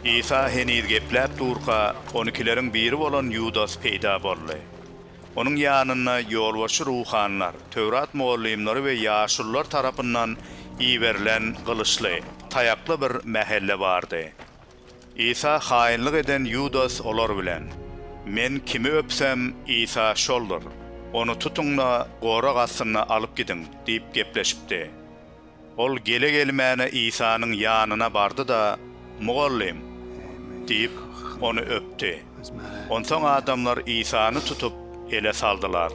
Isa heniz gepläp durka, on ikileriň biri bolan Ýudas peýda boldy. Onuň ýanyna ýolbaşçy ruhanylar, Töwrat mugallymlary we ýaşulular tarapyndan iberilen gylyçly, taýakly bir mähelle bardy. Isa haýynlyk eden Ýudas olar bilen, Men kimi öpsem, Isa şoldur. Ony tutuň-da, gorag astynda alyp gidiň diýip gepleşipdi. Ol gele-gelmäne Isanyň ýanyna bardy-da, Mugallym! diýip, ony öpdi. Onsoň adamlar Isany tutup, ele saldylar.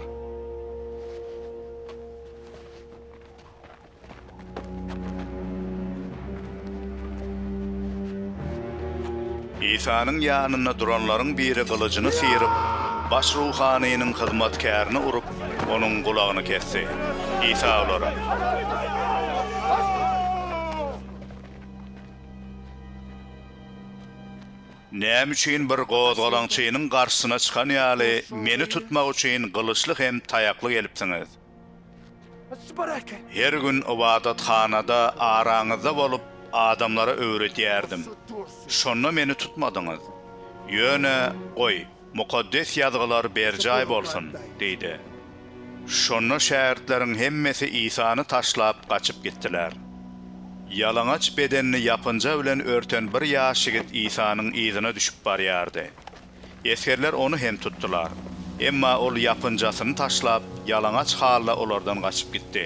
Isanyň ýanynda duranlaryň biri gylyjyny syryp, baş ruhanynyň hyzmatkärini urup, onuň gulagyny kesdi. Isa olara. Näme üçin bir gozgalaňçynyň garşysyna çykan ýaly, meni tutmak üçin gylyçly hem taýakly gelipsiňiz? Her gün ybadathanada araňyzda bolup, adamlara öwredýärdim. Şonda meni tutmadyňyz. Ýöne, goý, Mukaddes Ýazgylar berjaý bolsun! diýdi. Şonda şägirtleriň hemmesi Isany taşlap, gaçyp gitdiler. Ýalaňaç bedenini ýapynja bilen örten bir ýaş ýigit Isanyň yzyna düşüp barýardy. Esgerler ony hem tutdular. Emma ol ýapynjasyny taşlap, ýalaňaç halda olardan gaçyp gitdi.